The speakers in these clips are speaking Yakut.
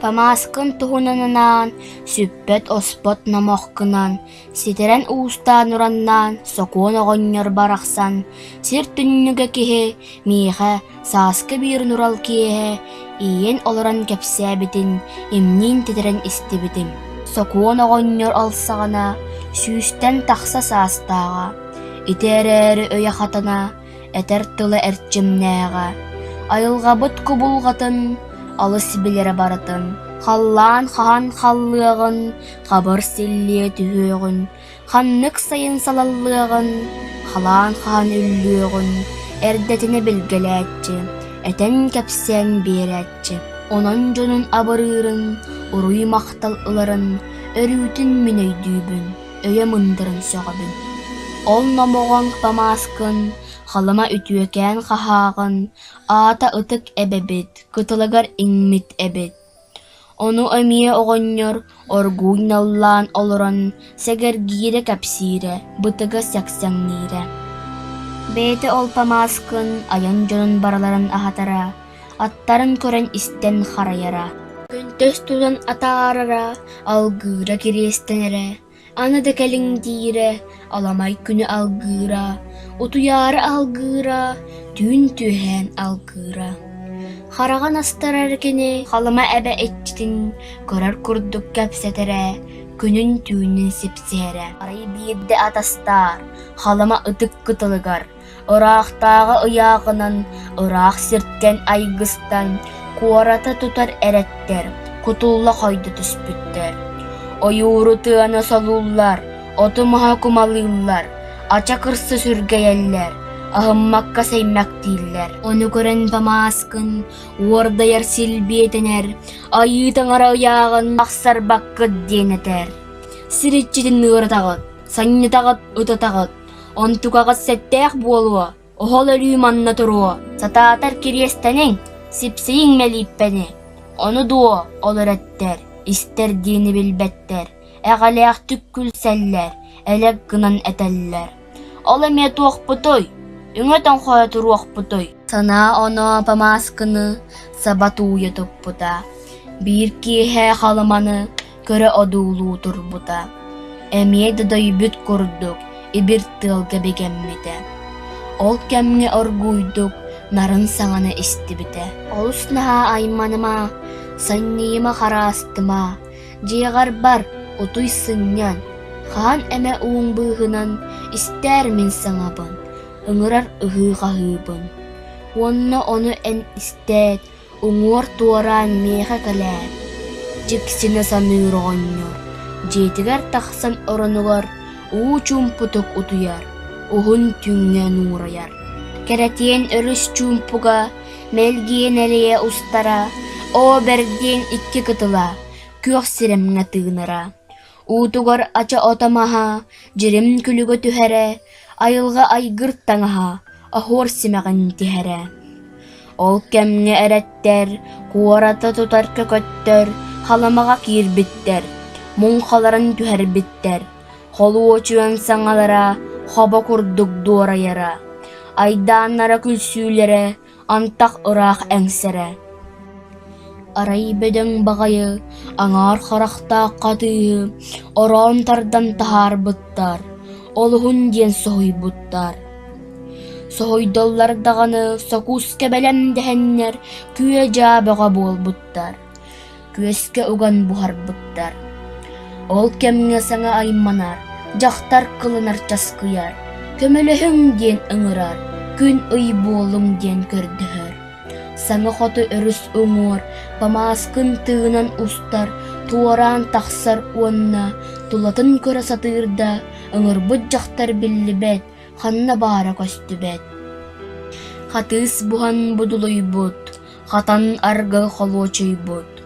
Тамааскын туһунан анаан, сүппэт-оспот номохкунан, ситэрэн уустаан ураннаан сокуон оҕонньор барахсан, сир түннүгэ киһи миэхэ сааскы биирин урал киэһэ иийэн олорон кэпсээбитин имниин титирэн истибитим. Сокуон оҕонньор алсаҕына, сүүстэн тахса саастааҕа, ити эрээри өйө хатана Этэр тыла эрчимнээҕэ, айылҕабыт кубулҕатын олус билэрэ барытын, халлаан хаһан халлыаҕын, хабыр-силлиэ түһүөҕүн, ханнык сайын салаллыаҕын, халаан хаһан үллүөҕүн эрдэтинэ билгэлээччи, этэн-кэпсээн биэрээччи, онон дьонун абырыырын, уруй-махтал ыларын өрүүтүн мин өйдүүбүн. өйө мындырын сөҕөбүн ол номоҕоҥ Томаскын Халыма үтүөкээн хаһааҕын аата ытык эбэбит кытылагар иҥмит эбит ону эмиэ оҕонньор оргууй наллаан олорон сэгэргиирэ кэпсиирэ бытыга сэксэҥниирэ бэйэтэ ол Томаскын айан дьонун барыларын аһатара аттарын көрөн-истэн харайара, көнтөс тутан атаарара, алгыыра кириэстэнэрэ, аны да кэлиҥ диирэ, аламай күнү алгыыра, утуйаары алгыыра, түүн түөһээн алгыыра. Хараҕын астарар кини Халыма эбэ иччитин көрөр курдук кэпсэтэрэ, күнүн түүнүн сипсиһэрэ. Арай биирдэ атастаар Халыма ытык кытылыгар Ыраахтааҕы ыйааҕынан ыраах сиртэн айгыстан куораты тутар эрэттэр кутулла хойдо түспүттэр. Ойууру тыаны солууллар, оту-маһы кумалыыллар, ача кырса сүргэйэллэр, аһыммакка-сэймэктииллэр. Ону көрөн Дамааскын уордайар силбиэтэнэр, айыы таҥара ыйааҕын тахсарбаккыт диэн этэр. Сир иччитин ыыратаҕыт, санньытаҕыт, ытатаҕыт, Онтукаҕыт сэттээх буолуо, оһол өрүү манна туруо, сатаатар кириэстэниҥ, сипсийиҥ мэлииппэни. Ону дуо олор эттэр, истэр диэни билбэттэр, эҕэлээхтик күлсэллэр, элэк гынан этэллэр. Ол эмиэ туохпутуй? Үҥэ тоҥхойо туруохпутуй? Санаа оноо Памааскыны саба тууйа туппута. Биир киэһэ Халыманы көрө одуулуу турбута, эмиэ да дөйбүт курдук ибир тыалга бигэммитэ. Ол кэмҥэ оргууйдук нарын саҥаны истибитэ. Олус наһаа айманыма, санньыйыма хараастыма, дьиэҕэр бар, утуй сынньан, хаан эмэ ууҥ быыһынан истээр мин саҥабын, ыҥырар ыһыы-хаһыыбын. Уонна ону эн истээт уҥуор туораан миэхэ кэлээр, дьиксинэ саныыр оҕонньор, дьиэтигэр тахсан оронугар уу чуумпутук утуйар, уһун түүҥҥүн уурайар, кэрэтиэн өрүс чуумпуга, мэлгиэн элэйэ устара, оо бэргиэн икки кытыла, күөх сирэмҥэ тыынара. Уутугар ача ото маһа, дьирим күлүгэ түһэрэ, айылҕа айгыр таҥаһа, оһуор симэҕин тиһэрэ. Ол кэмҥэ эрэттэр, куораты тутар көкөттөр Халымаҕа киирбиттэр, муҥхаларын түһэрбиттэр, холуочуйан саҥалара, хобо курдук дуорайара, айдааннара күлсүүлэрэ Антах ыраах эҥсэрэ Арай бөдөҥ баҕайы аҥаар харахтаах хатыыһы ороон тардан таһаарбыттар, олуһун диэн соһуйбуттар. Соһуйдаллар даҕаны сокуускэ бэлэм дэһэннэр күө-дьаа бөҕө буолбуттар күөскэ уган буһарбыттар. Ол кэмҥэ саҥа айманар, дьахтар кылынар часкыйар, көмөлөһүҥ диэн ыҥырар, күн ый буолуҥ диэн көрдөһөр. Саҥа хоту өрүс уҥуор памааскын тыынан устар, туораан тахсар уонна тулатын көрө сатыыр да, ыҥырбыт дьахтар биллибэт, ханна баара көстүбэт. Хатыыс буһан будулуйбут, Хатан аргы холуочуйбут,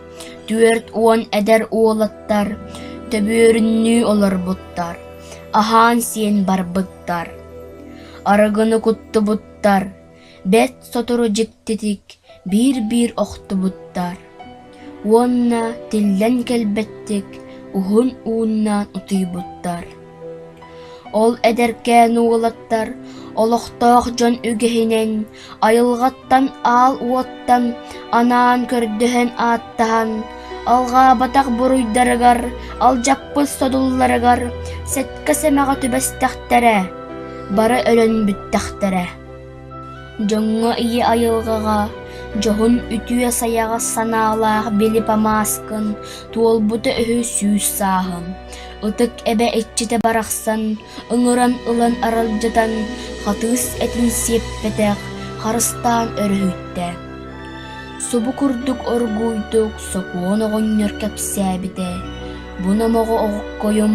түөрт уон эдэр уолаттар төбүөрүннүү олорбуттар, аһаан-сиэн барбыттар. Арыгыны куттубуттар, бэрт сотору дьиктитик биир-биир охтубуттар. Уонна тиллэн кэлбэттик уһун ууннаан утуйбуттар Ол эдэркээн уолаттар олохтоох дьон үгэһинэн айылҕаттан аал уоттан анаан көрдөһөн ааттаһан, алҕаабатах буруйдарыгар, алдьаппыт содулларыгар сэттэ сэмэҕэ түбэстэхтэрэ, бары өлөн бүттэхтэрэ Дьоҥҥо ийэ айылҕаҕа, дьоһун үтүө-сайаҕас санаалаах били Памааскын, туолбута үһү сүүс сааһым, ытык эбэ иччитэ барахсан ыҥыран ылан аралдьытан Хатыыс этин сиэппэтэх харыстаан өрүһүттэ. Субу курдук оргууйдук сокуон оҕонньор кэпсээбитэ: «Бу номоҕо оҕоккойум